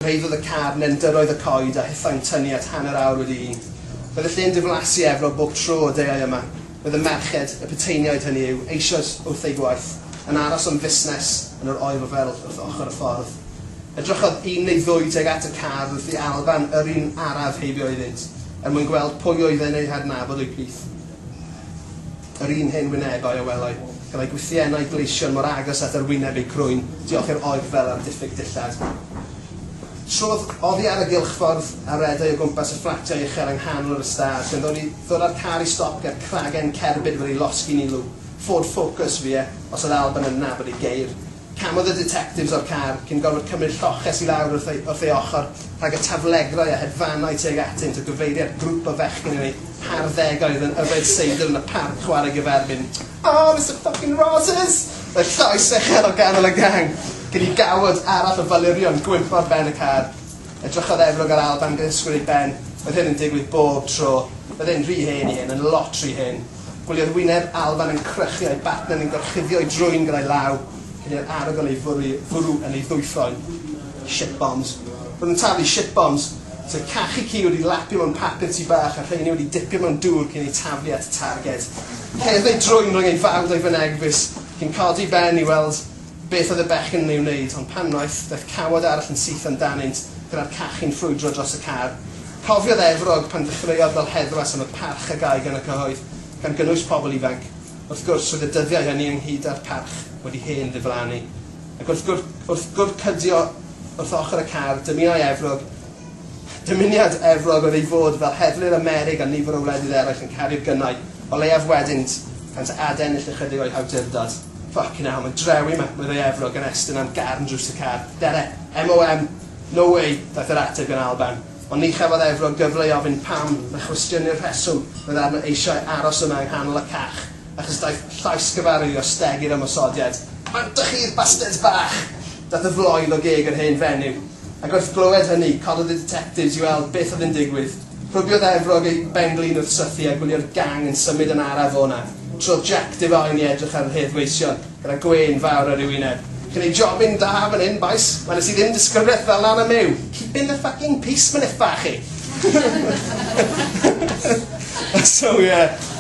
Cyrhaeddodd y car nendyrroedd y coed a hithau'n tynnu at hanner awr wedi un. Roedd y lle'n diflasu efro bob tro y deuai yma. Bydd y merched, y puteiniaid hynny yw, eisoes wrth eu gwaith, yn aros am fusnes yn yr Oel Fel wrth ochr y ffordd. Edrychodd un neu ddwy tuag at y car wrth i Alban yr un araf heibio iddynt, er mwyn gweld pwy oedd e'n eu hadnabod o'u plith. Yr un hen wynebau a welai, gyda'i gwthiennau gleision mor agos at yr wyneb eu crwyn, diolch i'r Oel Fel am ddiffyg dillad. Trodd oddi ar y gylchffordd a redai o gwmpas y fflatiau uchel yng nghanol yr ystâd, gan ddod i Ddyla'r car i stop ger cragen cerbyd wedi losgi ni lw Ford Focus fi e, os oedd Alban yn nabod ei geir. Camodd y ditectifs o'r car, cyn gorfod cymryd lloches i lawr wrth ei wrth ei ochr, rhag y taflegrau a hedfanai tuag atynt a gyfeiria at grwp o fechgyn yn eu harddegau oedd yn yfed seidr yn y parc chwarae gyferbyn. Aww, Mister Ffycin Rosses! Roedd llais uchel o ganol y gang, cyn i gawod arall o falurion gwympo ar ben y car. Edrychodd Efrog a'r Alban gyda sgwr ei ben. Oedd hyn yn digwydd bob tro. Oedd e'n rhy hen i hyn, yn lot rhy hen. Gwyliodd wyneb Alban yn crychu a'i bartner yn gorchuddio'i drwyn gyda'i law, cyn i'r arogl ei fwrw, fwrw yn ei ddwyffroen. Shit bombs. Roedd yn taflu shit bombs. Sef cachu ci wedi lapio mewn papur tŷ bach a rheiny wedi dipio mewn dŵr cyn eu taflu at y targed. Cerdd ei drwyn rhwng ei fawd a'i fynegfys, cyn codi ben i weld Beth oedd y bechgyn yn ei wneud, ond pan wnaeth, daeth cawod arall yn syth amdanynt, gyda'r cachu'n ffrwydro dros y car. Cofiodd Efrog pan ddechreuodd fel heddwas am y parch a gâi gan y cyhoedd, gan gynnwys pobl ifanc. Wrth gwrs, roedd y dyddiau hynny ynghyd â'r parch wedi hen ddiflannu. Ac wrth gwr-, wrth gwrcydio wrth ochr y car, dymunai Efrog, dymuniad Efrog oedd ei fod fel heddlu'r Amerig a nifer o wledydd eraill yn caru'r gynnau o leiaf weddynt, gan ta adennill ychydig o'i hawdurdod. Ffycin hell, mae'n drewi 'ma, meddai Efrog yn estyn am gefn drws y car. Dere! MOM! No way! ddaeth yr ateb gan Alban. Ond ni chafodd Efrog gyfle i ofyn pam, na chwestiynu'r rheswm oedd arno eisiau aros yna yng nghanol y cach, achos daeth llais gyfarwydd i ostegu yr ymosodiad. Pam 'dych chi'r bastards bach! Daeth y floedd o geg yr hen fenyw. Ac wrth glywed hynny, cododd y ditectifs i weld beth oedd yn digwydd. Rhugiodd Efrog ei ben-glin wrth sythu a gwylio'r gang yn symud yn araf o 'na. Trodd Jac Defaun i edrych ar yr hedd gweision, gyda gwên fawr ar ei wyneb. Chi'n neud jobyn da fan 'yn, bois. Weles i ddim disgrifiaeth fel 'na yn y Myw. Keepin' the fucking peace, mynychfa, chi! So, ie.